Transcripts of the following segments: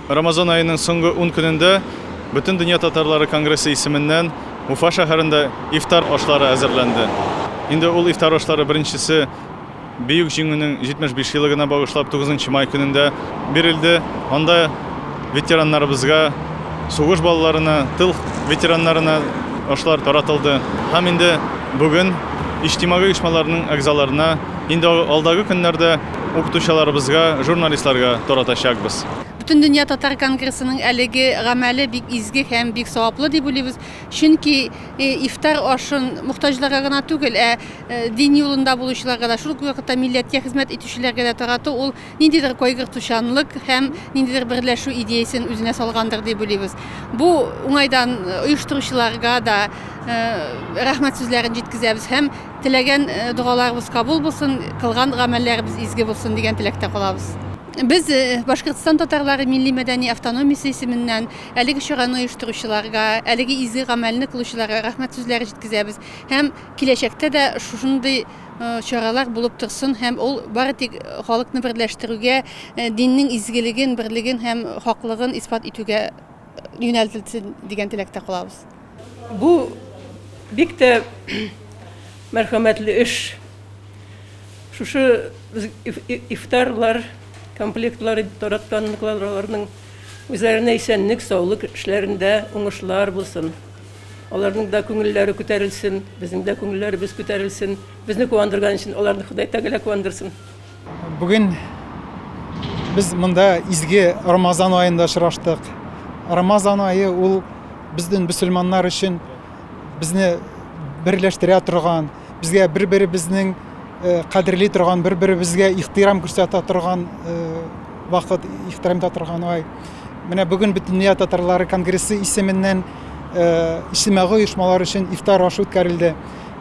Рамазан аеның соңгы ун көнендә Бөтен дөнья татарлары конгрессы исеменнән Уфа шәһәрендә ифтар ашлары әзерләнде. Инде ул ифтар ашлары беренчесе Бөек Җиңүнең 75 елыгына багышлап 9 май көнендә бирелде. Анда ветераннарыбызга, сугыш балаларына, тыл ветераннарына ашлар таратылды. Һәм инде бүген иҗтимагый оешмаларның әгъзаларына Инде алдагы көннәрдә укытучыларыбызга, журналистларга таратачакбыз. Бөтендөнья татар конгрессының әлеге гамәле бик изге һәм бик саваплы дип уйлыйбыз, чөнки ифтар ашын мохтаҗларга гына түгел, ә дин юлында булучыларга да, шул ук вакытта милләткә хезмәт итүчеләргә дә тарату ул ниндидер кайгыртучанлык һәм ниндидер берләшү идеясен үзенә салгандыр дип уйлыйбыз. Бу уңайдан оештыручыларга да рәхмәт сүзләрен җиткезәбез һәм Теләгән догаларыбыз кабул булсын, кылган гамәлләребез изге булсын дигән теләктә калабыз. Без Башкортстан татарлары милли-мәдәни автономиясе исеменнән әлеге чараны оештыручыларга, әлеге изге гамәлне кылучыларга рәхмәт сүзләре җиткезәбез һәм киләчәктә дә шушындый чаралар булып торсын һәм ул бары тик халыкны берләштерүгә, диннең изгелеген, берлеген һәм хаклыгын исбат итүгә юнәлтелсен дигән теләктә калабыз. Бу бик тә мәрхәмәтле эш. Шушы ифтарлар комплектлары таратканларның үзләренә исәнлек, саулык, эшләрендә уңышлар булсын. Аларның да күңелләре күтәрелсен, безнең дә күңелләребез күтәрелсен. Безне куандырган өчен аларны Ходай Тәгалә куандырсын. Бүген без монда изге Рамазан аенда очраштык. Рамазан ае ул безнең мөселманнар өчен безне берләштерә торган, безгә бер-беребезнең э, кадерли торган, бер-беребезгә ихтирам күрсәтә торган э, вакыт, ихтирам итә торган ай. Менә бүген Бөтендөнья татарлары конгрессы исеменнән э, иҗтимагый оешмалар өчен ифтар ашы үткәрелде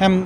һәм